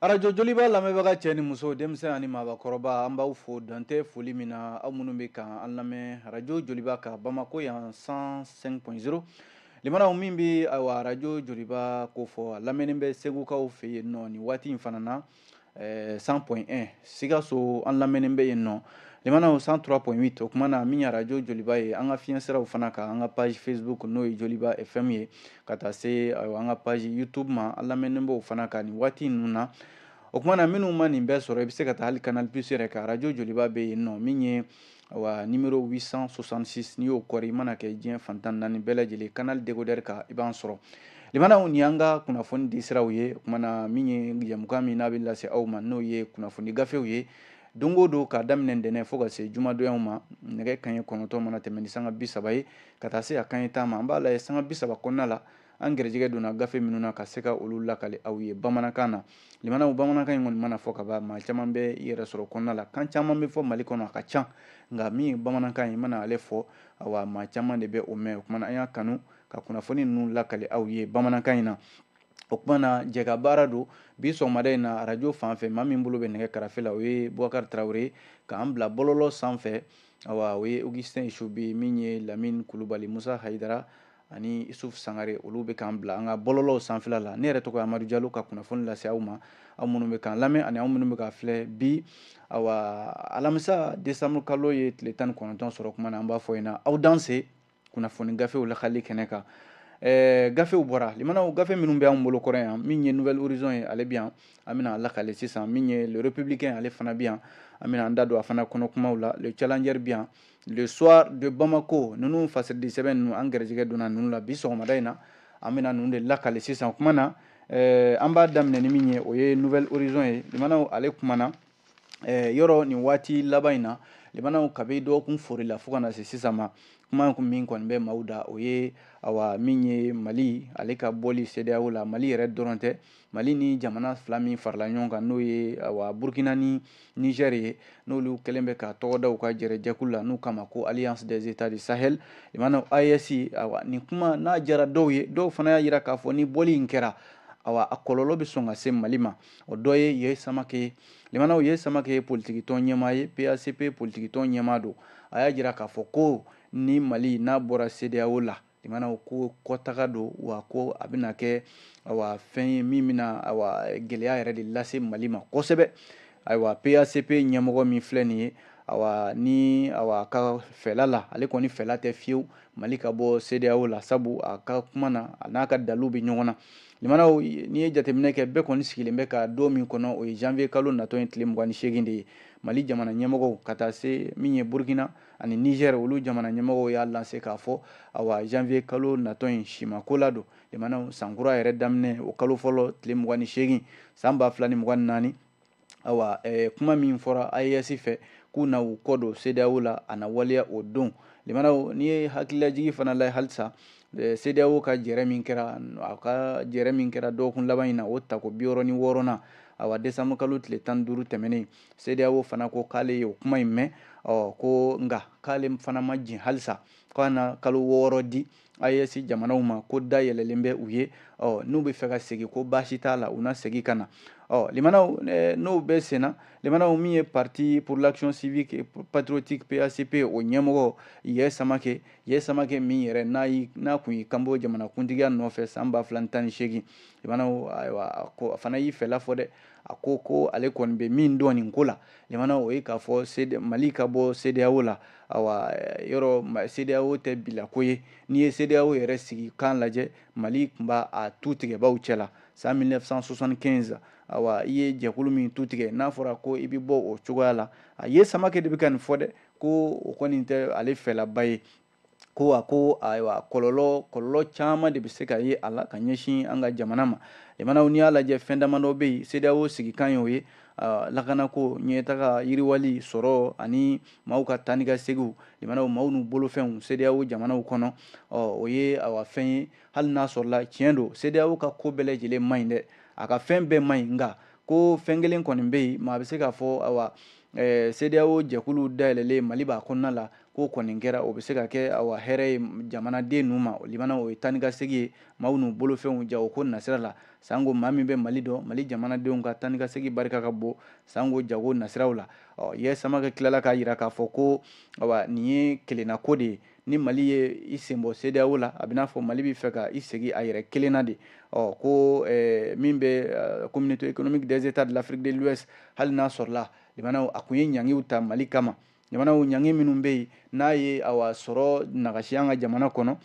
arajo joliba lamɛnbaga cɛ ni muso denmisɛnnin ani maabakɔrɔba an b'aw fo dantɛ foli min na aw minnu bɛ ka an lamɛn arajo joliba kan bamakɔ yan cent cinq point zéro limanaw min bɛ arajo joliba ko fɔ a lamɛnni bɛ segukaw fɛ yen nɔ nin waati in fana na cent point un sikaso an lamɛnni bɛ yen nɔ limanaw cent trois point huit o kuma na min ye arajo joliba ye an ka fiɲɛsiraw fana kan an ka page facebook n'o ye joliba fm ye ka taa se an ka page youtube ma an lamɛnni b'o fana kan nin waati ninnu na o kuma na minnu ma nin bɛɛ sɔrɔ i bɛ se ka taa hali canal plus yɛrɛ kan arajo joliba bɛ yen nɔ min ye awa numéro huit cent soixante-six n'i y'o kɔri i mana kɛ diɲɛ fan tan ni naani bɛɛ lajɛlen canal décodeur kan i b'an sɔrɔ limanaw nin y'an ka kunnafoni di siraw ye o kuma na min ye jɛmukan min n'a bɛ lase aw ma n'o ye kunnafoni gafew ye don o don k'a daminɛ ntɛnɛn fo ka se jumadonw ma nɛgɛ kanɲɛ kɔnɔntɔn mana tɛmɛn ni sanga bi saba ye ka taa se a kanɲɛ tan ma an b'a lajɛ sanga bi saba kɔnɔna la an garijɛgɛ donna gafe minnu na ka se ka olu lakali aw ye bamanankan na limanaw bamanankan in kɔni mana fɔ ka ban maa caman bɛ i yɛrɛ sɔrɔ kɔnɔna la kan caman bɛ fɔ mali kɔnɔ a ka ca nka min ye bamanankan ye i mana ale fɔ awa maa caman de bɛ o mɛn o kuma na an y'a kanu ka kunnafoni ninnu lakali aw ye bamanankan in na o kuma na jɛkabaara don bi sɔgɔmada in na arajo fan fɛ maa min bolo bɛ nɛgɛ karafe la o ye bubakari tarawele k'an bila bɔlɔlɔ sanfɛ awa o ye augustin isubi min ye lamine kulubali musa hayidara ani isuf sangare olu bɛ k'an bila an ka bɔlɔlɔw sanfɛla la ne yɛrɛ tɔgɔ ye amadu jalo ka kunnafoni lase aw ma aw minnu bɛ k'an lamɛn ani aw minnu bɛ k'an filɛ bi awa alamisa desanburu kalo ye tile tan ni kɔnɔntɔn sɔrɔ kuma na an b'a fɔ yen na aw danse kunnafoni gafew lakali kɛnɛ kan Eh, gafew bɔra limanaw gafe minnu bɛ anw bolo kɔrɔ yan min ye nouvel horizon ye ale bɛ yan an bɛna a lakale sisan min ye le républicain ale fana bɛ yan an bɛna an da don a fana kɔnɔ kumaw la le challenger bɛ yan le soir de bamako ninnu fasiridi sɛbɛn ninnu an gɛrɛjɛgɛ donna ninnu la bi sɔgɔmada in na an bɛna ninnu de lakale sisan o kuma na eh, an b'a daminɛ ni min ye o ye nouvel horizon ye limanaw ale kumana eh, yɔrɔ nin waati laban in na limanaw kabi dɔgɔkun foori la fo ka na se sisan ma kuma kun min kɔni bɛ maaw da o ye awa min ye mali ale ka bɔli cedeao la mali yɛrɛ dɔrɔn tɛ mali ni jamana fila min farala ɲɔgɔn kan n'o ye awa burkina ni niger ye n'olu kɛlen bɛ ka tɔgɔ da u ka jɛrɛjɛkulu la n'u k'a ma ko alliance des états du sahel limanaw aes awa nin kuma n'a jara dɔw ye dɔw fana y'a jira k'a fɔ ni bɔli in kɛra awa a kɔlɔlɔ bɛ sɔn ka se mali ma o dɔ ye yeah samake ye limanaw yeah samake ye politikitɔn ɲɛmaa ye pacp politikitɔn ɲɛmaa don a y'a jira k'a fɔ ko ni mali n'a bɔra cedeao la limanaw ko kɔtaga don wa ko a bɛna kɛ awa fɛn ye min bɛna awa gɛlɛya yɛrɛ de lase mali ma kosɛbɛ ayiwa pacp ɲɛmɔgɔ min filɛ nin ye awa ni awa a ka fɛla la ale kɔni fɛla tɛ fiyewu mali ka bɔ cedeao la sabu a ka kuma na a n'a ka daliw bɛ ɲɔgɔn na limanaw n'i ye jateminɛ kɛ bɛɛ kɔni sigilen bɛ ka don min kɔnɔ o ye janvier kalo natɔ in tile mugan ni seegin de ye mali jamana ɲɛmɔgɔw ka taa se min ye burkina ani niger olu jamana ɲɛmɔgɔw y'a lanse k'a fɔ awa janvier kalo natɔ in simako la don limanaw sankura yɛrɛ daminɛ o kalo fɔlɔ tile mugan ni seegin saan ba fila ni mugan ni naani ayiwa eh, kuma min fɔra AES fɛ k'u na u kɔ don CEDEAO la a na waleya o don limanaw n'i ye hakililajigi fana lajɛ halisa eh, CEDEAO ka jɛrɛ min kɛra a ka jɛrɛ min kɛra dɔgɔkun laban in na o tako bi wɔɔrɔ ni wɔɔrɔnan awa desanburu kalo tile tan ni duuru tɛmɛnen CEDEAO fana ko k'ale ye o kuma in mɛn ɔ ko nka k'ale fana ma jɛn halisa k'a na kalo wɔɔrɔ di AES jamanaw ma ko da yɛlɛlen bɛ u ye ɔ n'u bɛ fɛ ka segin ko baasi t'a la u na segin ka na ɔ limanaw n'o bɛ senna limanaw min ye parti pour l'action civique et patriotique PACP o ɲɛmɔgɔ Yɛ Samake Yɛ Samake min yɛrɛ n'a yi n'a kun y'i kanbɔ jamanakuntigiya nɔfɛ san ba fila ni tan ni seegin limanaw ayiwa a ko a fana y'i fɛla fɔ dɛ a ko ko ale kɔni bɛ min dɔn nin ko la limana o ye k'a fɔ mali ka bɔ sedeyawo la awa yɔrɔ sedeyawo tɛ bilako ye n'i ye sedeyawo yɛrɛ sigikan lajɛ mali tun b'a a tu tigɛbaw cɛ la san 1975 awa i ye jɛkulu min tu tigɛ n'a fɔra ko i bɛ bɔ o cogoya la a yɛ samakɛ de bɛ ka nin fɔ dɛ ko o kɔni tɛ ale fɛlaba ye ko a ko ayiwa kɔlɔlɔ kɔlɔlɔ caman de bɛ se ka ye a la ka ɲɛsin an ka jamana ma limanaw n'i y'a lajɛ fɛn damadɔ bɛ yen CEDEAO sigikan y'o ye lakanako ɲɛtaga yiriwali sɔrɔ ani maaw ka taa ni ka seginw limanaw maaw n'u bolofɛnw CEDEAO jamanaw kɔnɔ ɔ o ye awa fɛn ye hali n'a sɔrɔla tiɲɛ don CEDEAO ka ko bɛɛ lajɛlen man ɲi dɛ a ka fɛn bɛɛ man ɲi nka ko fɛn kelen kɔni bɛ yen maa bɛ se k'a fɔ awa CEDEAO jɛkulu dayɛlɛlen Mali b'a kɔnɔna la k'o kɔni kɛra o bɛ se ka kɛ awa hɛrɛ ye jamanaden ninnu ma limana o ye taa ni ka segin ye maaw n'u bolofɛnw jagoko nasira la sanko maa min bɛ mali dɔn mali jamanadenw ka taa ni ka segin barika ka bon sanko jago nasiraw la ɔ yɛ samakɛ tilala k'a jira k'a fɔ ko awa nin ye kelenna ko de ye ni mali ye i sen bɔ sedeyawo la a bɛ n'a fɔ mali bɛ fɛ ka i sigi a yɛrɛ kelenna de ɔ ko eh, min bɛ communauté eh, économique des états de l'afrique de l'ouest hali n'a sɔrɔla limanaw a tun ye ɲangiw ta mali kama jamanaw ɲangi minnu bɛ yen n'a ye awa sɔrɔ nagasi an ka jamana kɔnɔ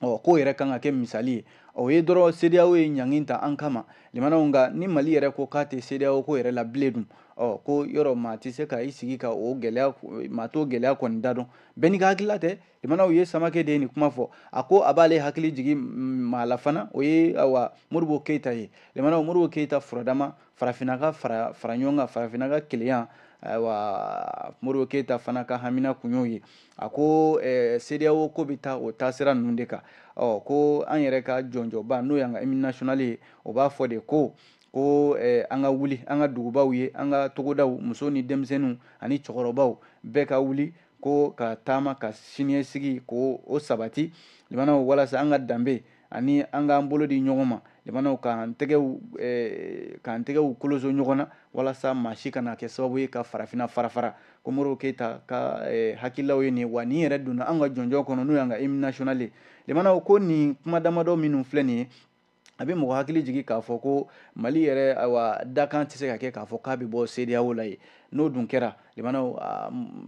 ɔ k'o yɛrɛ kan ka kɛ misali ye o ye dɔrɔn sedeyawo ye ɲangi ta an kama limanaw nka ni mali yɛrɛ ko k'a tɛ sedeyawo ko yɛrɛ la bilen dun ɔ k'o yɔrɔ maa tɛ se ka i sigi ka o gɛlɛya maa t'o gɛlɛya kɔni dan dɔn bɛɛ n'i ka hakilila tɛ limanaw yeah samake de ye nin kuma fɔ a ko a b'ale hakili jigin maa la fana o ye awa modibo keyita ye limanaw modibo keyita furadama farafinna ka fara fara ɲɔgɔn kan farafinna ka kelenya ayiwa modibo keyita fana ka hamina kun y'o ye a ko eh, cedeao ko bɛ taa o taasira ninnu de kan ɔ ko an yɛrɛ ka jɔnjɔnba n'o y'an ka hymne national ye o b'a fɔ de ko ko eh, an ka wuli an ka dugubaw ye an ka togodaw muso ni denmisɛnninw ani cɛkɔrɔbaw bɛɛ ka wuli ko ka taama ka siniɲɛsigi ko o sabati limanaw walasa an ka danbe ani an k'an bolo di ɲɔgɔn ma limanaw k'an tɛgɛw eh, k'an tɛgɛw koloso ɲɔgɔn na walasa maa si kana kɛ sababu ye ka farafinna farafara ko modibo keyita ka eh, hakililaw ye nin wa nin yɛrɛ donna an ka jɔnjɔn kɔnɔ n'o y'an ka hymne national ye limanaw ko nin kuma damadɔ minnu filɛ nin ye a bɛ mɔgɔ hakili jigin k'a fɔ ko mali yɛrɛ ayiwa dakan tɛ se ka kɛ k'a fɔ k'a bɛ bɔ cedeao la ye n'o dun kɛra limanaw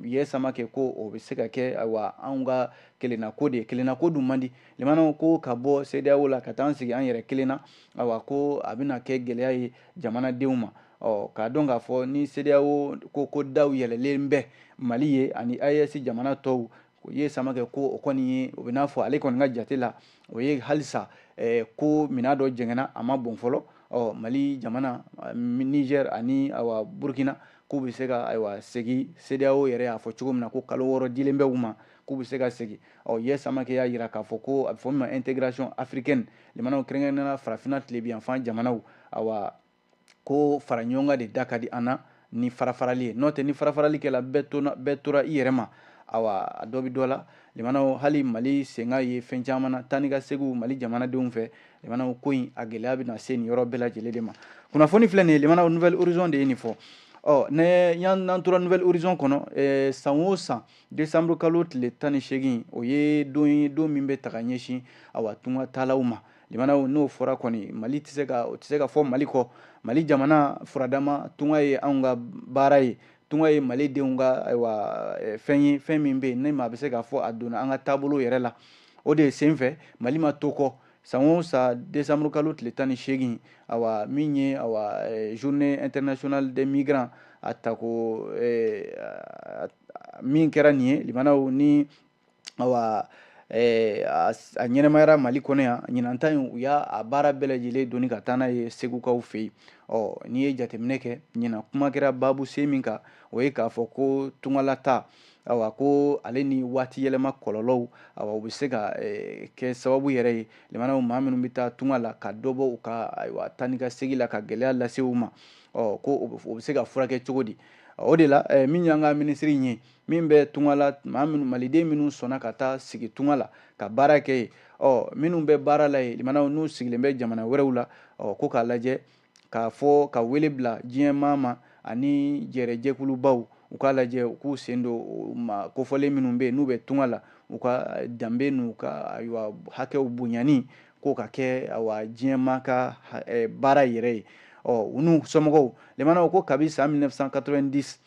yeah samake ko o bɛ se ka kɛ ayiwa anw ka kelenna ko de ye kelenna ko dun man di limanaw ko ka bɔ cedeao la ka taa an sigi an yɛrɛ kelen na ayiwa ko a bɛna kɛ gɛlɛya ye jamanadenw ma ɔ k'a dɔn k'a fɔ ni cedeao ko daw yɛlɛlen bɛ mali ye ani aes jamana tɔw o yeah samake ko o kɔni ye o bɛ n'a fɔ ale kɔni ka jate la o ye halisa eh, ko minan dɔ jɛngɛnna a ma bɔn fɔlɔ ɔ mali jamana eh, niger ani awa burkina k'u bɛ se ka ayiwa segi cedeao yɛrɛ y'a fɔ cogo min na ko kalo wɔɔrɔ dilen bɛ u ma k'u bɛ se ka segi ɔ yeah samake y'a jira k'a fɔ ko a bɛ fɔ min ma intégration africaine limanaw kɛrɛnkɛrɛnnenya la farafinna tilebinyanfan jamanaw awa ko fara ɲɔgɔn kan de da ka di an na ni farafarali ye n'o tɛ ni farafarali kɛla bɛɛ tora i yɛrɛ ma awa a dɔ bɛ dɔ la limanaw hali mali senga ye fɛn caman na taa ni ka segiw mali jamanadenw fɛ limanaw ko in a gɛlɛya bɛna se nin yɔrɔ bɛɛ lajɛlen de ma kunnafoni filɛ nin ye limanaw nouvel horizon de ye nin fɔ ɔ ne n'an tora nouvel horizon kɔnɔ eh, san o san décembre kalo tile tan ni seegin o ye don ye don min bɛ ta ka ɲɛsin awa tunga taalaw ma limanaw n'o fɔra kɔni mali tɛ se ka o tɛ se ka fɔ mali kɔ mali jamana furadama tunga ye anw ka baara ye tunga ye mali denw ka ayiwa eh, fɛn ye fɛn min bɛ yen ni maa bɛ se k'a fɔ a donna an ka taabolo yɛrɛ la o de sen fɛ mali ma to kɔ san o san décembre kalo tile tan ni seegin awa min ye awa eh, journée internationale des migrants a tako eh, min kɛra nin ye limanaw ni ayiwa Eh, a ɲɛnamayara mali kɔnɔ yan ɲinan ta in u y'a a baara bɛɛ lajɛlen doni ka taa n'a ye segukaw fɛ yen ɔ n'i ye jateminɛ kɛ ɲinan kuma kɛra baabu sen min kan o ye k'a fɔ ko tungalataa awa ko ale ni waati yɛlɛma kɔlɔlɔw awa u bɛ se ka eh, kɛ sababu yɛrɛ ye limanaw maa minnu bɛ taa tunga la ka dɔ bɔ u ka ayiwa taa ni ka segi la ka gɛlɛya lase u ma ɔ ko o bɛ se ka furakɛ cogo di o de la eh, min y'an ka minisiri in ye min bɛ tunga la maa minnu maliden minnu sɔnna ka taa sigi tunga la ka baara kɛ yen ɔ minnu bɛ baara la yen limanaw n'u sigilen bɛ jamana wɛrɛw la ɔ ko k'a lajɛ k'a fɔ ka wele bila diɲɛ maa ma ani jɛrɛjɛkulubaw u k'a lajɛ u k'u sen don maa kofɔlen minnu bɛ yen n'u bɛ tunga la u ka danbe n'u ka ayiwa hakɛw bonyani k'o ka kɛ awa diɲɛ maa ka baara yɛrɛ ye ɔ u n'u somɔgɔw limanaw ko kabi san 1990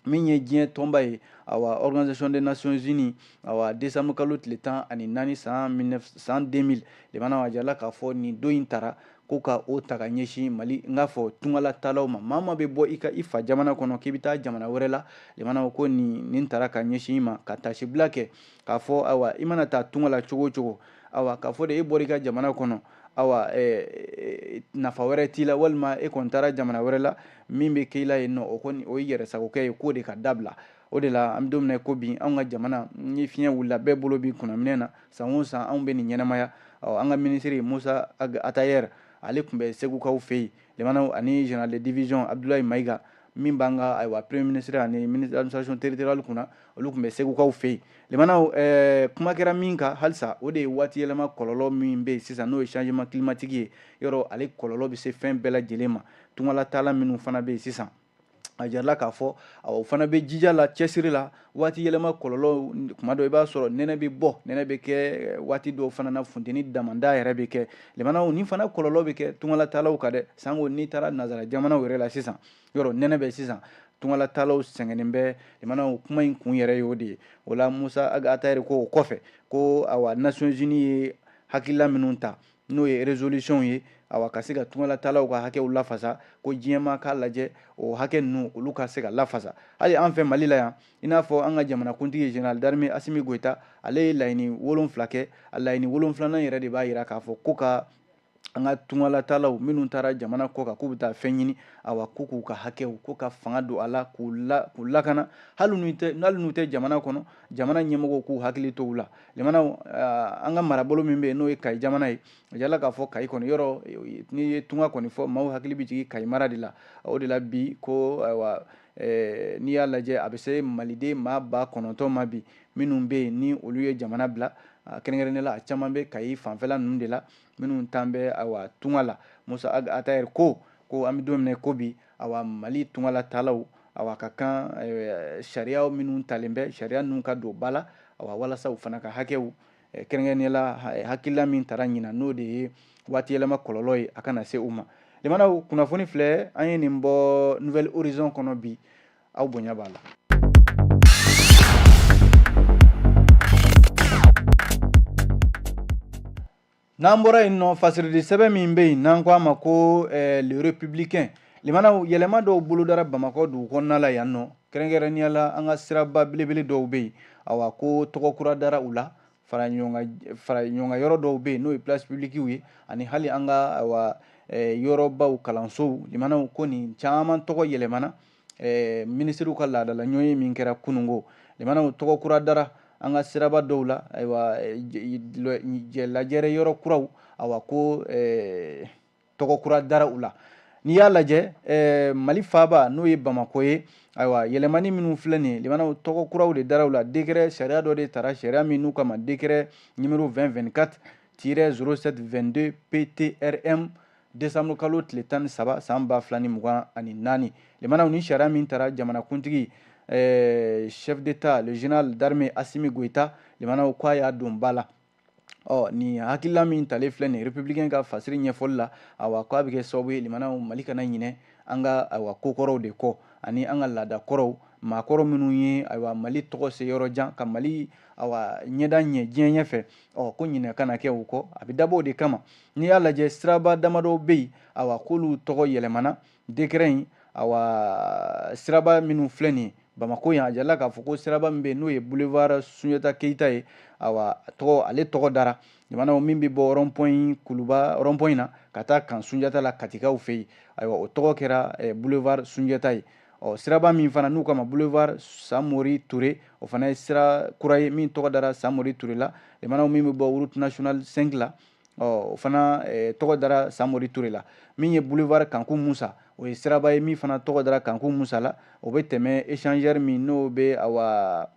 min ye diɲɛ tɔnba ye awa organisation des nations unies awa décembre kalo tile tan ani naani san san 2000 lemana a jirala k'a fɔ nin don in tara ko ka o ta ka ɲɛsin mali n k'a fɔ tungalataalaw ma maa maa bɛ bɔ i ka i fa jamana kɔnɔ k'i bɛ taa jamana wɛrɛ la lemana ko nin nin tara ka ɲɛsin i ma ka tasibila kɛ k'a fɔ awa i mana taa tunga la cogo cogo awa k'a fɔ de e bɔra i ka jamana kɔnɔ awa eh, nafa wɛrɛ t'i la walima e kɔni taara jamana wɛrɛ la min bɛ k'i la yen nɔ o kɔni o ye yɛrɛsagokɛ ye k'o de ka dabila o de la an bɛ don min na ko bi anw ka jamana ni fiɲɛ wulila bɛɛ bolo b'i kunnaminɛn na san o san anw bɛ nin ɲɛnamaya ɔ an ka minisiri musa atayɛri ale tun bɛ segukaw fɛ yen limanaw ani général de division Abdoulaye Maïga min b'an ka ayiwa premier ministre ani ministre administration territoriale kunna olu tun bɛ segukaw fɛ yen limanaw eh, kuma kɛra min kan halisa o de ye waati yɛlɛma kɔlɔlɔ min bɛ yen sisan n'o ye changement climatique ye yɔrɔ ale kɔlɔlɔ bɛ se fɛn bɛɛ lajɛlen ma tungalataala minnu fana bɛ yen sisan a jirala k'a fɔ o fana bɛ jija la cɛsiri la waati yɛlɛma kɔlɔlɔ kuma dɔ i b'a sɔrɔ nɛnɛ bɛ bɔ nɛnɛ bɛ kɛ eh, waati dɔw fana na funteni damanda yɛrɛ bɛ kɛ lemanaw nin fana kɔlɔlɔ bɛ kɛ tungalatalaw kan dɛ sanko n'i taara nazara jamanaw yɛrɛ la sisan yɔrɔ nɛnɛ bɛ sisan tungalatalaw sɛgɛnnen bɛ lemanaw kuma in kun yɛrɛ y'o de ye o la musa atayɛri ko o kɔfɛ ko awa nations unis ye hakilila minnu ta n'o ye résolution ye awa ka se ka tungalatalaw ka hakɛw lafasa ko diɲɛ maa k'a lajɛ o hakɛ ninnu olu ka se ka lafasa hali an fɛ mali la yan i n'a fɔ an ka jamanakuntigi eh, général d'armée Assimi Goïta ale ye laɲini wolonfila kɛ a laɲini wolonfilanan yɛrɛ de b'a yira k'a fɔ ko ka an ka tungalatalaw minnu taara jamana kɔkan k'u bɛ taa fɛn ɲini awa ko k'u ka hakɛw ko ka fanga don a la k'u lakana hali n'u tɛ jamana kɔnɔ jamana ɲɛmɔgɔw k'u hakili to u la limanaw eh, an ka marabolo min bɛ yen n'o ye kayi jamana ye a jirala k'a fɔ kayi kɔni yɔrɔ eh, n'i ye tunga kɔni fɔ maaw hakili bɛ jigin kayi mara de la o de la bi ko ayiwa eh, n'i y'a lajɛ a bɛ se maliden maa ba kɔnɔntɔn ma bi minnu bɛ yen ni olu ye jamana bila ah, kɛrɛnkɛrɛnnen la a caman bɛ kayi fanfɛla ninnu de la minnu taalen bɛ awa tunga la musa atayɛri ko ko an bɛ don min na ko bi awa mali tungala taalaw awa ka kan eh, sariya minnu talen bɛ sariya ninnu ka don ba la awa walasa u fana ka hakɛw eh, kɛrɛnkɛrɛnnenya la eh, hakilila min tara ɲinan n'o de ye waati yɛlɛma kɔlɔlɔ ye a kana se u ma limanaw kunnafoni filɛ an ye nin bɔ nouvelle horizon kɔnɔ bi aw bonya b'a la n'an bɔra yen nɔ fasiridi sɛbɛn min bɛ yen n'an ko a ma ko eh, le républicain limanaw yɛlɛma dɔw bolodara bamakɔ dugu kɔnɔna la yan nɔ kɛrɛnkɛrɛnnenya la an ka siraba belebele dɔw bɛ yen awa ko tɔgɔ kura dara u la fara ɲɔgɔn kan yɔrɔ dɔw bɛ yen n'o ye place publikiw ye ani hali an ka awa eh, yɔrɔbaw kalansow limanaw ko nin caman tɔgɔ yɛlɛmana eh, minisiriw ka laadala ɲɔgɔnye min kɛra kunungo limanaw tɔgɔ kura dara an ka siraba dɔw la ayiwa eh, lajɛrɛ yɔrɔ kuraw awa ko eh, tɔgɔ kura dara u la n'i y'a lajɛ eh, mali faaba n'o ye bamako ye ayiwa yɛlɛmani minnu filɛ nin ye limanaw tɔgɔ kuraw de dara u la dekrɛ sariya dɔ de tara sariya min n'u k'a ma dekrɛ nimero 2024 tirɛ 0722 ptrm desanburu kalo tile tan ni saba san ba fila ni mugan ani naani limanaw ni sariya min tara jamanakuntigi eh, chef d'état le général d'armée assimi goïta limanaw ko a y'a don ba la ɔ nin hakilila min talen filɛ nin républicain ka fasiri ɲɛfɔli la awa ko a bɛ kɛ sababu ye limanaw mali kana ɲinɛ an ka ayiwa kokɔrɔw de kɔ ani an ka laada kɔrɔw maakɔrɔ minnu ye ayiwa mali tɔgɔ se yɔrɔ jan ka mali awa ɲɛda ɲɛ diɲɛ ɲɛfɛ ɔ ko ɲinɛ kana kɛ u kɔ a bɛ dabɔ o de kama n'i y'a lajɛ siraba damadɔ bɛ yen awa k'olu tɔgɔ yɛlɛmana dekɛrɛ in awa siraba minnu filɛ nin ye bamako yan a jirala k'a fɔ ko siraba min bɛ yen n'o ye boulevard sunjata keyita ye awa tɔgɔ ale tɔgɔ dara limanaw min bɛ bɔ rɔnpɔn kuluba rɔnpɔn na ka taa camp sunjata la katikaw fɛ yen ayiwa o tɔgɔ kɛra eh, boulevard sunjata ye ɔ siraba min fana n'u k'a ma boulevard samori ture o fana ye sira kura ye min tɔgɔ dara samori ture la limanaw min bɛ bɔ route nationale 5 la ɔ o fana eh, tɔgɔ dara samori ture la min ye boulevard kanku musa o ye siraba ye min fana tɔgɔ dara kanku musa la o bɛ tɛmɛ échangeur min n'o bɛ awa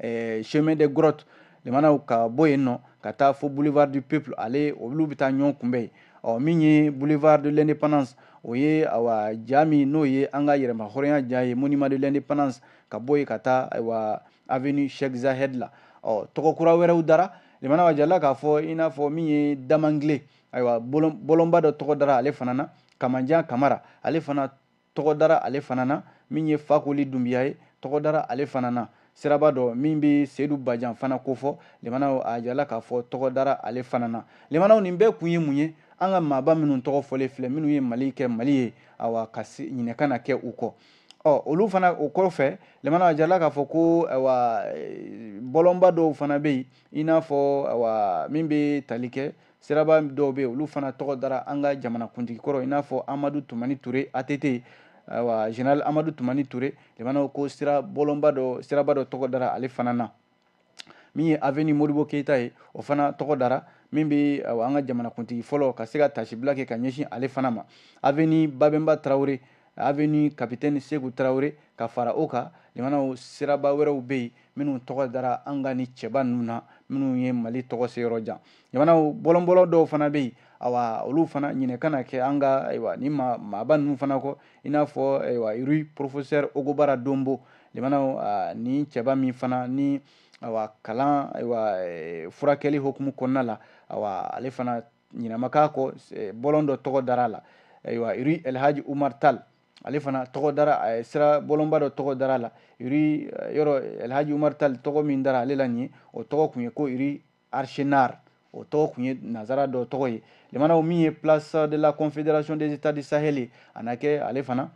eh, chemin des grottes limanaw ka bɔ yen nɔ ka taa fo boulevard du peuple ale olu bɛ taa ɲɔgɔn kunbɛn yen ɔ min ye boulevard de l'indépendance o ye awa ja min n'o ye an ka yɛrɛmahɔrɔnya ja ye monument de l'indépendance ka bɔ yen ka taa ayiwa avenue Sheikh Zayed la ɔ tɔgɔ kura wɛrɛw dara limanaw a jirala k'a fɔ i n'a fɔ min ye damangile ayiwa bɔlɔnba dɔ tɔgɔ dara ale fana na kamanjan kamara ale fana tɔgɔ dara ale fana na min ye fakoli dunbiya ye tɔgɔ dara ale fana na siraba dɔ min bɛ seyidu bajan fana kofɔ limanaw a jirala k'a fɔ tɔgɔ dara ale fana na limanaw nin bɛɛ kun ye mun ye an ka maaba minnu tɔgɔ fɔlen filɛ minnu ye mali kɛ mali ye awa ka ɲinɛ kana kɛ u kɔ ɔ olu fana o kɔfɛ limanaw a jirala k'a fɔ ko ayiwa bɔlɔnba dɔw fana bɛ yen i n'a fɔ ayiwa min bɛ tali kɛ siraba dɔw bɛ yen olu fana tɔgɔ dara an ka jamanakuntigi kɔrɔ i n'a fɔ amadu tumani ture ATT ayiwa général amadu tumani ture limanaw ko sira bɔlɔnba dɔ siraba dɔ tɔgɔ dara ale fana na min ye avenue modibo keyita ye o fana tɔgɔ dara min bɛ an ka jamanakuntigi fɔlɔ ka se ka taasibila kɛ ka ɲɛsin ale fana ma avenue babɛnba tarawele avenue capitaine seku tarawele ka fara o kan limanaw siraba wɛrɛw bɛ yen minnu tɔgɔ dara an ka nin cɛba ninnu na minnu ye mali tɔgɔ se yɔrɔ jan limanaw bɔlɔnbɔlɔ dɔw fana bɛ yen awa olu fana ɲinɛ kana kɛ an ka ayiwa nin maaba ninnu fana kɔ i n'a fɔ ayiwa rue professeur ogobara donbo limanaw nin cɛba min fana ni ayiwa kalan ayiwa eh, furakɛli hukumu kɔnɔna la ayiwa ale fana ɲinɛ ma k'a kɔ eh, bɔlɔn dɔ tɔgɔ dara a la ayiwa rue elhaji umar tal ale fana tɔgɔ dara a sira bɔlɔnba dɔ tɔgɔ dara a la rue eh, yɔrɔ elhaji umar tal tɔgɔ min dara ale la nin ye o tɔgɔ kun ye ko rue archinard o tɔgɔ tun ye nazara dɔ tɔgɔ ye limanaw min ye place de la confédération des états du sahel ye a na kɛ ale fana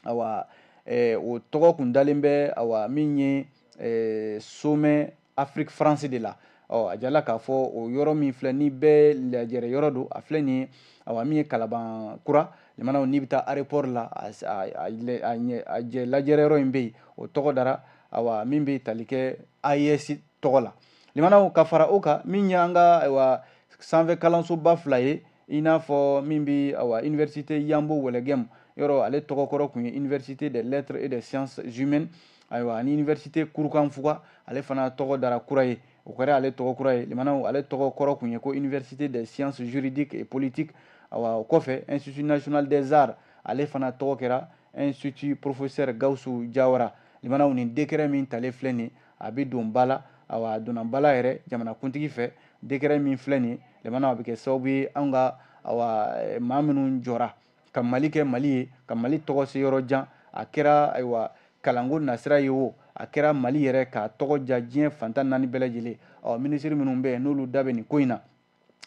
awa eh, o tɔgɔ kun dalen bɛ awa min ye eh, sommet afrique france de la ɔ a jirala k'a fɔ o yɔrɔ min filɛ nin bɛɛ lajɛrɛ yɔrɔ don a filɛ nin ye awa min ye kalaban kura limanaw n'i bɛ taa aéroport la a jɛ lajɛrɛ yɔrɔ in bɛ yen o tɔgɔ dara awa min bɛ tali kɛ AES tɔgɔ la limanaw ka fara o kan min ye an ka ayiwa sanfɛ kalansoba fila ye i n'a fɔ min bɛ ayiwa université yanbo wologɛmu yɔrɔ ale tɔgɔ kɔrɔ tun ye université des lettres et des sciences humaines ayiwa ani université kurukanfuga ale fana tɔgɔ dara kura ye o kɛra ale tɔgɔ kura ye limanaw ale tɔgɔ kɔrɔ tun ye ko université des sciences juridiques et politiques ayiwa o kɔfɛ institut national des arts ale fana tɔgɔ kɛra institut professeur gawusu jawara limanaw nin décret min talen filɛ nin ye a bɛ don ba la awa a donna ba la yɛrɛ jamanakuntigi fɛ décret min filɛ nin limanaw a bɛ kɛ sababu ye an ka maa minnu jɔra ka mali kɛ mali ye ka mali tɔgɔ se yɔrɔ jan a kɛra ayiwa kalanko nasira ye o a kɛra mali yɛrɛ k'a tɔgɔ diya diɲɛ fan tan naani bɛɛ lajɛlen ɔ minisiri minnu bɛ yen n'olu da bɛ nin ko in na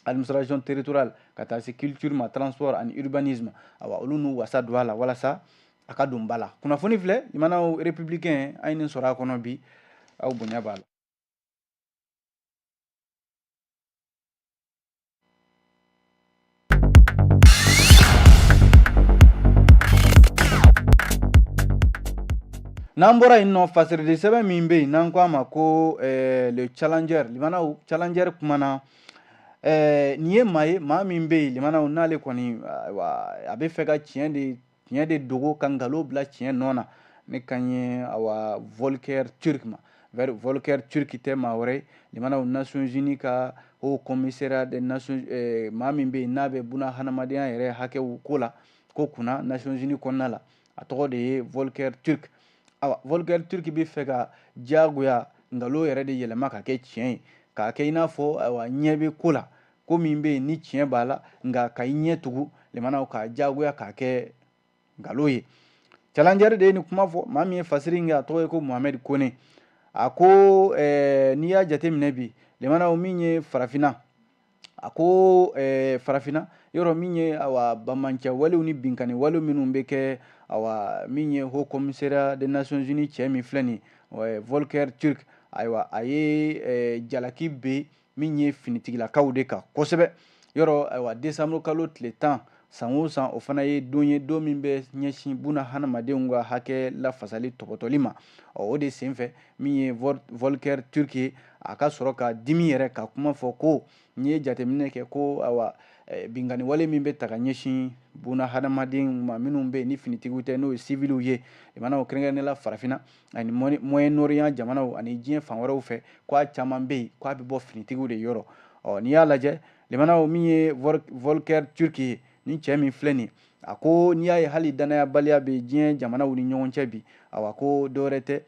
administration territoriale ka taa se culture ma transport ani urbanisme awa olu n'u wasa don a la walasa a ka don ba la kunnafoni filɛ limanaw républicain an ye nin sɔrɔ a kɔnɔ bi aw bonya b'a la N'an bɔra yen nɔ fasirili sɛbɛn min bɛ yen n'an k'a ma ko eh, le challenger limanaw challenger kumana eh, nin ye maa ye maa min bɛ yen limanaw n'ale kɔni a bɛ fɛ ka tiɲɛ de tiɲɛ de dogo ka nkalon bila tiɲɛ nɔ na ne kan ye awa volker turk ma volker turk tɛ maa wɛrɛ ye limanaw nations unies ka haut commissariat des nations eh, maa min bɛ yen n'a bɛ buna hadamadenya yɛrɛ hakɛw ko la ko kunna nations unies kɔnɔna la a tɔgɔ de ye volker turk awa volker turk bɛ fɛ ka diyagoya nkalon yɛrɛ de yɛlɛma ka kɛ tiɲɛ ye k'a kɛ i n'a fɔ awa ɲɛ bɛ ko la ko min bɛ yen ni tiɲɛ b'a la nka ka i ɲɛ tugu limanaw k'a diyagoya k'a kɛ nkalon ye challenger de ye nin kuma fɔ maa min ye fasiri kɛ a tɔgɔ ye ko mohamed kone a ko eh, n'i y'a jateminɛ bi limanaw min ye farafinna a ko eh, farafinna yɔrɔ min ye awa bamancɛ walew ni binkani walew minnu bɛ kɛ awa min ye haut commissariat des nations unies cɛ min filɛ nin eh, volker turk ayiwa a ye eh, jalaki bin min ye finitigilakaw de kan kosɛbɛ yɔrɔ ayiwa desanburu kalo tile tan san o san o fana ye don ye don min bɛ ɲɛsin buna hadamadenw ka hakɛ lafasali tɔpɔtɔli ma o de senfɛ min ye volker turk ye a ka sɔrɔ ka dimi yɛrɛ ka kuma fɔ ko n'i ye jateminɛ kɛ ko awa eh, binkanniwale min bɛ ta ka ɲɛsin buna hadamadenw ma minnu bɛ yen ni finitigiw tɛ n'o ye siviliw ye limanaw kɛrɛnkɛrɛnnenya la farafinna ani moyen orient jamanaw ani diɲɛ fan wɛrɛw fɛ k'a caman bɛ yen k'a bɛ bɔ finitigiw de yɔrɔ ɔ n'i y'a lajɛ limanaw min ye volker turk ye ni cɛ min filɛ nin a ko n'i y'a ye hali dannayabaliya bɛ diɲɛ jamanaw ni ɲɔgɔn cɛ bi awa ko dɔwɛrɛ tɛ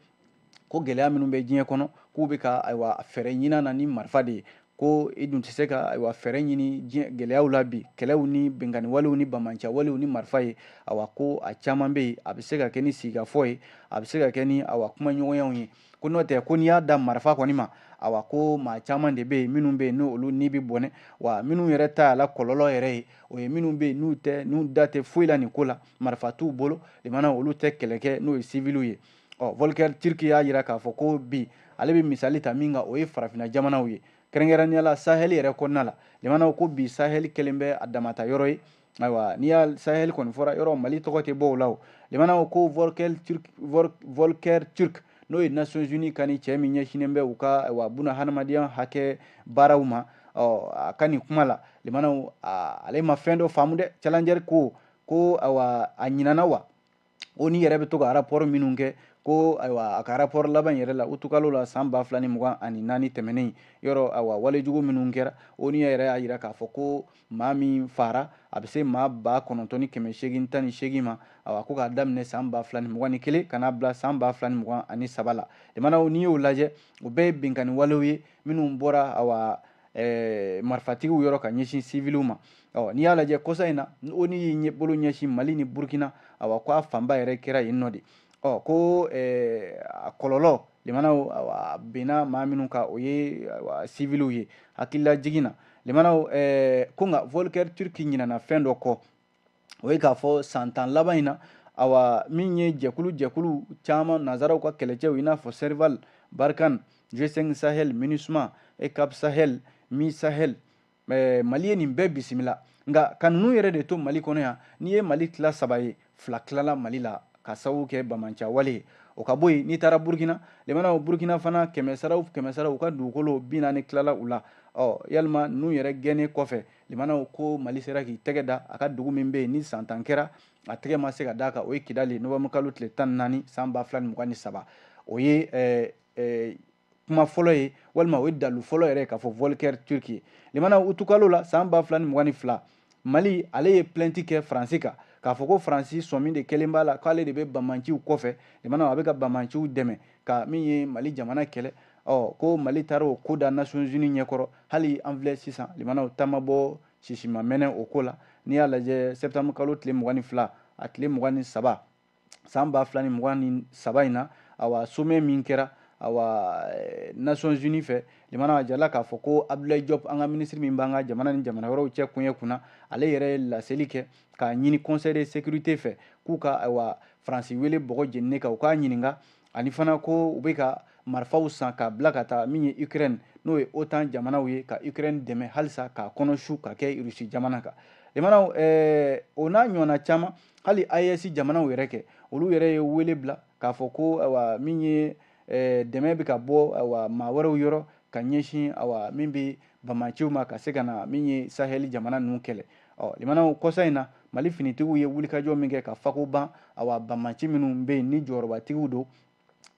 ko gɛlɛya minnu bɛ diɲɛ kɔnɔ k'u bɛ ka ayiwa fɛɛrɛ ɲin'a na ni marifa de ye ko i dun tɛ se ka ayiwa fɛɛrɛ ɲini diɲɛ gɛlɛyaw la bi kɛlɛw ni binkanniwalew ni bamancɛwalew ni marifa ye awa ko a caman bɛ yen a bɛ se ka kɛ ni sigikafɔ ye a bɛ se ka kɛ ni awa kumaɲɔgɔnyaw ye ko n'o tɛ ko n'i y'a da marifa kɔni ma awa ko maa caman de bɛ yen minnu bɛ yen n'olu ni bɛ bɔnɛ wa minnu yɛrɛ ta y'a la kɔlɔlɔ yɛrɛ ye o ye minnu bɛ yen n'u tɛ n'u da tɛ foyi la nin ko la marifa t'u bolo limanaw olu tɛ kɛlɛ kɛ n'o ye siviliw ye ɔ volker turk y'a jira k'a fɔ ko bi ale bɛ misali ta min kan o ye farafinna jamanaw ye kɛrɛnkɛrɛnnenya la sahɛli yɛrɛ kɔnɔna la limanaw ko bi sahɛli kɛlen bɛ a dama ta yɔrɔ ye ayiwa n'i y'a sahel kɔni fɔra yɔrɔ mali tɔgɔ tɛ bɔ o la o limanaw ko volker turk n'o ye nations unies ka nin cɛ min ɲɛsinnen bɛ u ka awa buna hadamadenya hakɛ baaraw ma ɔ a ka nin kuma la limanaw ale ma fɛn dɔ faamu dɛ challenger ko ko awa a ɲinana wa onu yɛrɛ bɛ to ka rapport minnu kɛ ko ayiwa a ka rapport laban yɛrɛ la utukalo la san ba fila ni mugan ani naani tɛmɛnen yɔrɔ ayiwa walejugu minnu kɛra onu yɛrɛ y'a jira k'a fɔ ko maa min faara a bɛ se maa ba kɔnɔntɔn ni kɛmɛ seegin tan ni seegin ma ayiwa ko k'a daminɛ san ba fila ni mugan ni kelen ka n'a bila san ba fila ni mugan ani saba la limanaw n'i y'o lajɛ o bɛɛ ye binkanni walew ye minnu bɔra ayiwa marifatigiw yɔrɔ ka ɲɛsin siviliw ma ɔ n'i y'a lajɛ kɔsa in na onu y'i bolo ɲɛsin mali ni burukina awa ko a fanba yɛrɛ kɛra yen nɔ de ɔ ko eh, a kɔlɔlɔ lemanaw a benna maa minnu kan o ye siviliw ye hakililajigin na lemanaw eh, ko nka volker turk ɲinana fɛn dɔ kɔ o ye k'a fɔ san tan laban in na awa min ye jɛkulu jɛkulu caman nazaraw ka kɛlɛcɛw i n'a fɔ serval barkhane g5 sahel minusma eucap sahel misahel Eh, mali ye nin bɛɛ bisimila nka ka ninnu yɛrɛ de to mali kɔnɔ yan n'i ye mali tila saba ye fila tilala mali la ka sababu kɛ banbaanciya wale ye o ka bɔ yen n'i taara burukina lemanaw burukina fana kɛmɛsaraw kɛmɛsaraw u ka dugukolo bi naani tilala u la ɔ yalima ninnu yɛrɛ gɛnnen kɔfɛ lemanaw ko mali sera k'i tɛgɛ da a ka dugu min bɛ yen ni san tan kɛra a tɛgɛ ma se ka d'a kan o ye kidali nowanburukalo tile tan ni naani san ba fila ni mugan ni saba o ye eh, eh, kuma fɔlɔ ye walima o ye dalu fɔlɔ yɛrɛ k'a fɔ volker turk ye limana utukalo la san ba fila ni mugan ni fila mali ale ye plɛnti kɛ faransi kan k'a fɔ ko faransi sɔmi de kɛlen b'a la k'ale de bɛ banbaanciw kɔfɛ limana a bɛ ka banbaanciw dɛmɛ ka min ye mali jamana kɛlɛ ɔ ko mali taara o ko da nations unies ɲɛkɔrɔ hali an filɛ sisan limanaw ta ma bɔ sisi ma mɛnɛ o ko la n'i y'a lajɛ septembre kalo tile mugan ni fila a tile mugan ni saba san ba fila ni mugan ni saba in na awa somɛ min kɛra awa eh, nations unies fɛ limana a jirala k'a fɔ ko abdulayi jɔp an ka minisiri min b'an ka jamana ni jamana wɛrɛw cɛ koɲɛ kunna ale yɛrɛ ye laseli kɛ k'a ɲini conseil de sécurité fɛ k'u ka awa faransi wele bɔgɔ jeninen kan u k'a ɲininka ani fana ko u bɛ ka marifaw san k'a bila ka taa min ye ukraine n'o ye otan jamanaw ye ka ukraine dɛmɛ halisa k'a kɔnɔsu ka kɛ rusi jamana kan limanaw eh, o n'a ɲɔgɔnna caman hali AES jamanaw yɛrɛ kɛ olu yɛrɛ ye wele bila k'a fɔ ko awa min ye eh, dɛmɛ bɛ ka bɔ awa maa wɛrɛw yɔrɔ ka ɲɛsin awa min bɛ bamanciw ma ka se ka na min ye sahɛli jamana ninnu kɛlɛ ɔ limanaw kɔsa in na mali finitigiw ye wulikajɔ min kɛ ka fako ban awa bamanci minnu bɛ yen ni jɔyɔrɔbatigiw don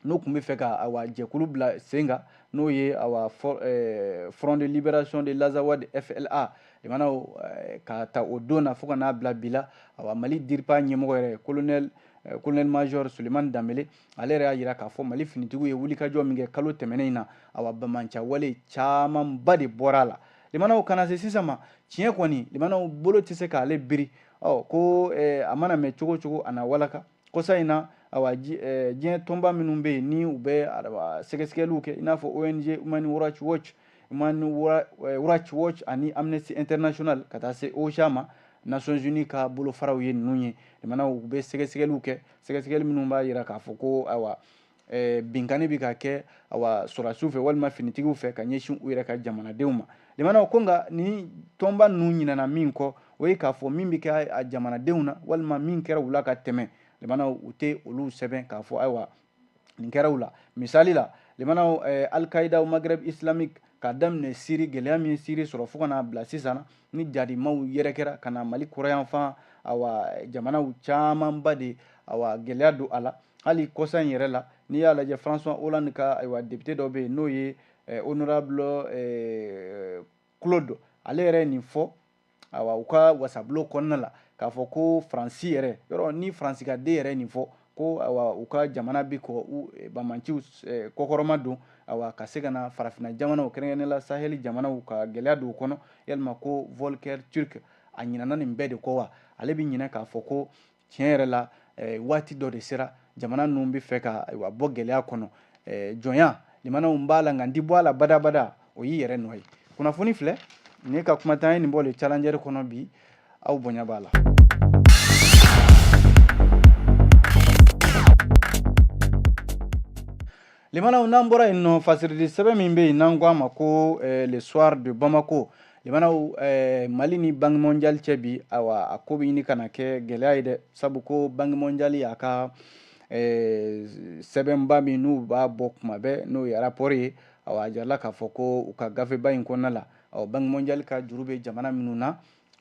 n'u tun bɛ fɛ ka awa jɛkulu bila sen kan n'o ye awa eh, front de libération de l'azawad fla limanaw eh, k'a ta o don na fo ka n'a bila bi la awa mali dirpa ɲɛmɔgɔ yɛrɛ colonel eh, colonel major sulemani danbele ale yɛrɛ y'a jira k'a fɔ mali finitigiw ye wulikajɔ min kɛ kalo tɛmɛnen in na awa bamanciya wale camanba de bɔra a la limanaw ka na se sisan ma tiɲɛ kɔni limanaw bolo tɛ se k'ale biri ɔ ko eh, a mana mɛn cogo cogo a na walaka kɔsa in na awa eh, diɲɛ tɔnba minnu bɛ yen ni u bɛ sɛgɛsɛgɛliw kɛ i n'a fɔ ong human rights watch human eh, rights watch ani amnesty international ka taa se ocha ma nations unies ka bolofaraw ye ninnu ye limanaw u bɛ sɛgɛsɛgɛliw kɛ sɛgɛsɛgɛli minnu b'a jira k'a fɔ ko awa eh, binkani bɛ ka kɛ awa sɔrɔdasiw fɛ walima finitigiw fɛ ka ɲɛsin u yɛrɛ ka jamanadenw ma limanaw ko nka ni tɔnba ninnu ɲinana min kɔ o ye k'a fɔ min bɛ kɛ a jamanadenw na walima min kɛra u la ka tɛmɛ limanaw u tɛ olu sɛbɛn k'a fɔ ayiwa nin kɛra u la misali la limanaw eh, al-qaïda au maghreb islamique k'a daminɛ siri gɛlɛya min siri sɔrɔ fo ka n'a bila sisan ni jadimaw yɛrɛ kɛra ka na mali kɔrɔn yanfan awa jamanaw camanba de awa gɛlɛya don a la hali kɔsa in yɛrɛ la n'i y'a lajɛ françois hollande ka ayiwa député dɔ bɛ yen n'o ye eh, honorable eh, claude ale yɛrɛ ye nin fɔ awa u ka wasabulon kɔnɔna la k'a fɔ ko faransi yɛrɛ yɔrɔ ni faransi ka den yɛrɛ nin fɔ ko awa u ka jamana bɛ kɔ u eh, bamanciw eh, kɔkɔrɔmadon awa ka se ka na farafina jamanaw kɛrɛnkɛrɛnnenya la saheli jamanaw ka gɛlɛya don u kɔnɔ yalima ko volker türk a ɲinana nin bɛɛ de kɔ wa ale bɛ ɲinɛ k'a fɔ ko tiɲɛ yɛrɛ la eh, waati dɔ de sera jamana ninnu bɛ fɛ ka ayiwa bɔ gɛlɛya kɔnɔ eh, jɔnya limanaw b'a la nka n ti bɔ a la badabada o y'i yɛrɛ nɔ ye kunnafoni filɛ ne ka kuma tɛ an ye nin bɔ le challenger kɔnɔ bi aw bonya b'a la Limanaw n'an bɔra yen nɔ fasiri di sɛbɛn min bɛ yen n'an ko a ma ko eh, le soir de Bamako limanaw eh, Mali ni banque mondiale cɛ bi awa a ko bɛ ɲini ka na kɛ gɛlɛya ye dɛ sabu ko banque mondiale y'a ka eh, sɛbɛnba min n'u b'a bɔ kuma bɛɛ n'o ye rapport ye awa a jirala k'a fɔ ko u ka gafeba in kɔnɔna la awa banque mondiale ka juru bɛ jamana minnu na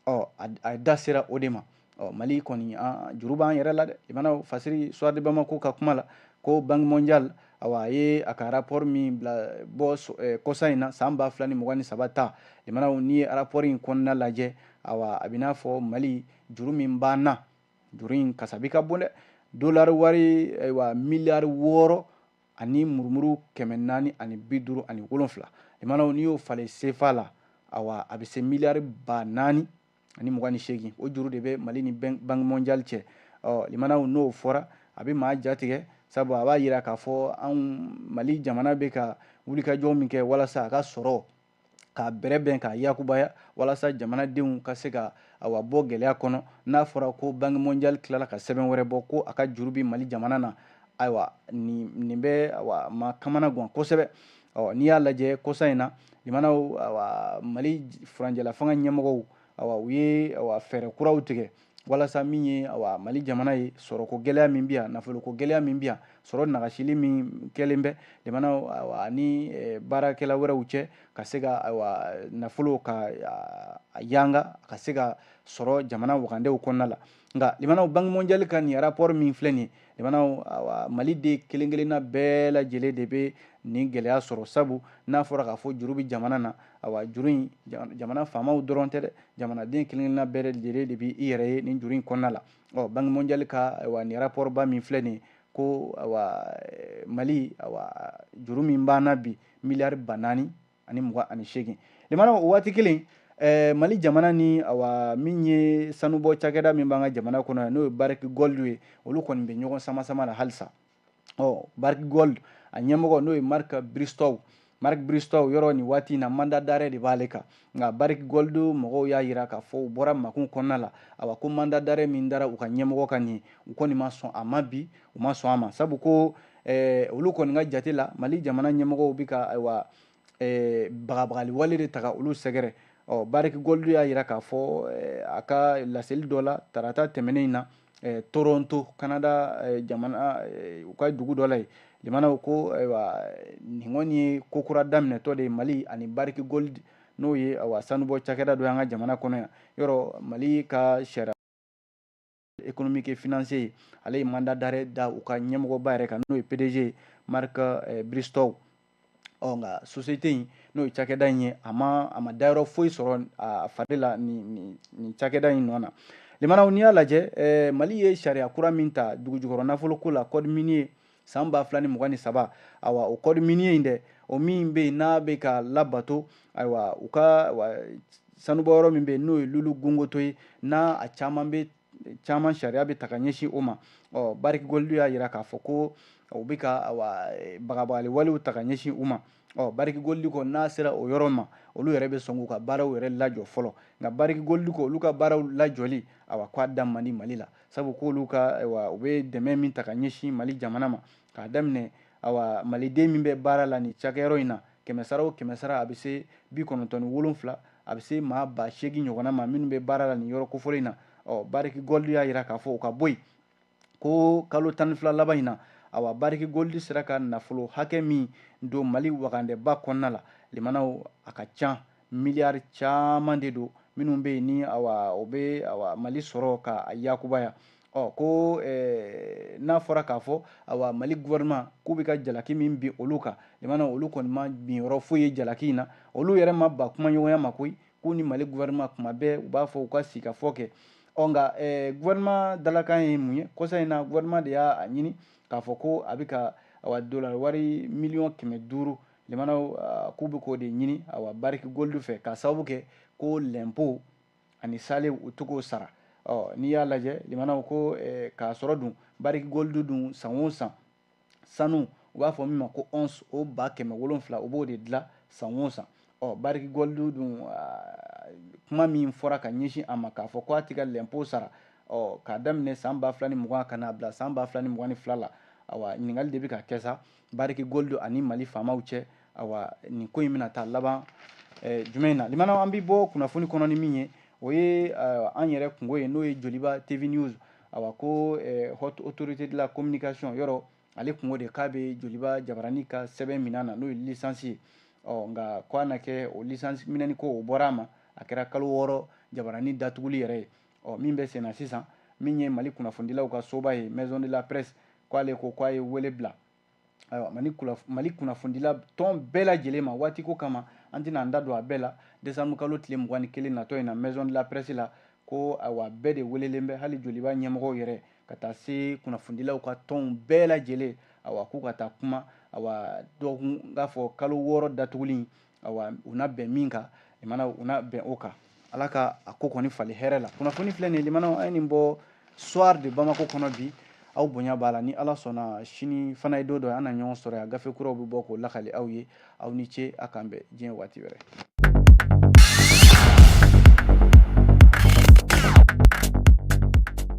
ɔ a da sera o de ma ɔ mali kɔni juru b'an yɛrɛ la dɛ limanaw fasiri soir de bamako ka kuma la ko banque mondiale awa a ye a ka rapport min bila bɔ eh, kɔsa in na san ba fila ni mugan ni saba ta limanaw n'i ye rapport in kɔnɔna lajɛ awa a bɛ n'a fɔ mali juru min b'an na juru in kasabi ka bon dɛ dolari wari ayiwa miliyari wɔɔrɔ ani murumuru kɛmɛ naani ani bi duuru ani wolonfila limanaw n'i y'o falen sefa la awa a bɛ se miliyari ba naani ani mugan ni seegin o juru de bɛ mali ni banque mondiale cɛ ɔ limanaw n'o fɔra a bɛ maa jatigɛ sabu a b'a yira k'a fɔ anw mali jamana bɛ ka wulikajɔ min kɛ walasa a ka sɔrɔ k'a bɛrɛbɛn k'a yakubaya walasa jamanadenw ka se ka awa bɔ gɛlɛya kɔnɔ n'a fɔra ko banque mondiale tilala ka sɛbɛn wɛrɛ bɔ ko a ka juru bi mali jamana na ayiwa nin bɛ awa maa kamana gan kosɛbɛ ɔ n'i y'a lajɛ kɔsa in na limanaw awa mali furancɛlafanga ɲɛmɔgɔw awa u ye awa fɛɛrɛ kuraw tigɛ walasa min ye awa mali jamana ye sɔrɔko gɛlɛya min bɛ yan nafoloko gɛlɛya min bɛ yan sɔrɔ nagasili min kɛlen bɛ jamana ani eh, baarakɛla wɛrɛw cɛ ka se ka awa nafolo ka yanga ka se ka sɔrɔ jamana wagandew kɔnɔna la nka limanaw banque mondiale ka nin rapport min filɛ nin ye limanaw awa maliden kelen kelenna bɛɛ lajɛlen de bɛ nin gɛlɛya sɔrɔ sabu n'a fɔra k'a fɔ juru bɛ jamana na awa juru in jamana faamaw dɔrɔn tɛ dɛ jamanaden kelenkelenna bɛɛ lajɛlen de bɛ i yɛrɛ ye nin juru in kɔnɔna la ɔ banque mondiale ka awa nin rapport ba min filɛ nin ye ko awa eh, mali awa juru min b'an na bi miliyari ba naani ani mugan ani seegin limanaw o waati kelen eh, mali jamana ni awa min ye sanubɔ cakɛda min b'an ka jamana kɔnɔ yan n'o ye barrick gold ye olu kɔni bɛ ɲɔgɔn samasama la halisa ɔ barrick gold a ɲɛmɔgɔ n'o ye mark bristow mark bristow yɔrɔ nin waati in na mandat d'arrêt de b'ale kan nka barrick gold mɔgɔw y'a yira k'a fɔ u bɔra makun kɔnɔna la awa ko mandat d'arrêt min dara u ka ɲɛmɔgɔ kan nin u kɔni ma sɔn a ma bi u ma sɔn a ma sabu ko eh, olu kɔni ka jate la mali jamana ɲɛmɔgɔw bɛ ka ayiwa eh, bagabagali wale de ta ka olu sɛgɛrɛ ɔ barrick gold y'a yira k'a fɔ eh, a ka laseli dɔ la tarata tɛmɛnen in na eh, toronto canada eh, jamana eh, u ka dugu dɔ la yen limanaw ko ayiwa nin kɔni ye ko kura daminɛtɔ de ye mali ani barrick gold n'o ye awa sanubɔ cakɛda dɔ y'an ka jamana kɔnɔ yan yɔrɔ mali ka sariya économique et financier ale ye mandat d'arrêt da u ka ɲɛmɔgɔba yɛrɛ kan n'o ye pdg mark eh, bristow ɔ nka société in n'o ye cakɛda in ye a ma a ma dayɔrɔ foyi sɔrɔ a fari la nin nin cakɛda in nɔ na limanaw n'i y'a lajɛ eh, mali ye sariya kura min ta dugujukɔrɔ nafolo ko la code minier san ba fila ni mugan ni saba ayiwa o code minier in dɛ o min bɛ yen n'a bɛ ka labato ayiwa u ka sanubɔ yɔrɔ min bɛ yen n'o ye loulo gounkoto ye n'a a caman bɛ caman sariya bɛ ta ka ɲɛsin o ma ɔ barrick gold y'a yira k'a fɔ ko u bɛ ka bagabagaliwalew ta ka ɲɛsin u ma ɔ barrick gold ko n'a sera o yɔrɔ ma olu yɛrɛ bɛ sɔn k'u ka baaraw yɛrɛ lajɔ fɔlɔ nka barrick gold ko olu ka baaraw lajɔli awa k'a da man di mali la sabu k'olu u bɛ dɛmɛ min ta ka ɲɛsin mali jamana ma k'a daminɛ awa maliden min bɛ baara la nin cakɛyɔrɔ in na kɛmɛsara o kɛmɛsara a bɛ se bi kɔnɔntɔn ni wolonfila a bɛ se maa ba seegin ɲɔgɔnna ma minnu bɛ baara la nin yɔrɔ kofɔlen in na ɔ barrick gold y'a yira k'a fɔ u ka bɔ yen ko kalo tan ni fila laban in na awa barrick gold sera ka nafolo hakɛ min don mali wagandɛba kɔnɔna la limanaw a ka can miliyari caman de don minnu bɛ yen ni awa o bɛ awa mali sɔrɔ ka a yakubaya ɔ ko eh, n'a fɔra k'a fɔ awa mali gouvernement k'u bɛ ka jalaki min bin olu kan limana olu kɔni ma bin yɔrɔ foyi ye jalaki in na olu yɛrɛ ma ban kumaɲɔgɔnya ma koyi k'u ni mali gouvernement kuma bɛɛ u b'a fɔ u ka sigikafɔ kɛ ɔ nka gouvernement dalakan ye mun ye kɔsa in na gouvernement de y'a a ɲini k'a fɔ ko a bɛ ka awa dolar wari miliyɔn kɛmɛ duuru limanaw k'u bɛ k'o de ɲini awa barrick gold fɛ k'a sababu kɛ ko lɛnpo ani salew u tɛ k'o sara ɔ n'i y'a lajɛ limanaw ko k'a sɔrɔ dun barrick gold dun san o san sanu u b'a fɔ min ma ko once o ba kɛmɛ wolonfila u b'o de dilan san o san ɔ barrick gold dun kuma min fɔra ka ɲɛsin a ma k'a fɔ ko a ti ka lɛnpo sara ɔ k'a daminɛ san ba fila ni mugan ka n'a bila san ba fila ni mugan ni fila la awa ɲininkali de bɛ ka kɛ sa barrick gold ani mali faamaw cɛ awa nin ko in bɛna taa laban eh, jumɛn na limanaw an bɛ bɔ kunnafoni kɔnɔ ni min ye o ye eh, an yɛrɛ kunko ye n'o ye joliba tv news awa ko haute autorité de la communication yɔrɔ ale tun ko de k'a bɛ joliba jabaranin ka sɛbɛn min'a na n'o ye licence ye ɔ nka ko a na kɛ o licence minɛni ko o bɔra a ma a kɛra kalo wɔɔrɔ jabaranin datuguli yɛrɛ ye ɔ min bɛ sen na sisan min ye mali kunnafonidilaw ka soba ye maison de la presse k'ale ko k'a ye wele bila ayiwa mali kunnafonidila tɔn bɛɛ lajɛlen ma waati ko kama an tɛna an da don a bɛɛ la décembre kalo tile mugan ni kelen natɔ in na maison de la presse la ko ayiwa bɛɛ de welelen bɛ hali joliba ɲɛmɔgɔw yɛrɛ ka taa se kunnafonidilaw ka tɔnw bɛɛ lajɛlen awa k'u ka taa kuma awa dɔgɔkun k'a fɔ kalo wɔɔrɔ datuguli awa u na bɛn min kan limana u na bɛn o kan ala ka a ko kɔni fali hɛrɛ la kunnafoni filɛ nin limanaw an ye nin bɔ soir de bamako kɔnɔ bi aw bonya b'a la ni ala sɔnna sini fana ye don dɔ an na ɲɔgɔn sɔrɔ yan gafe kuraw bɛ bɔ k'o lakali aw ye aw ni ce a k'an bɛn diɲɛ waati wɛrɛ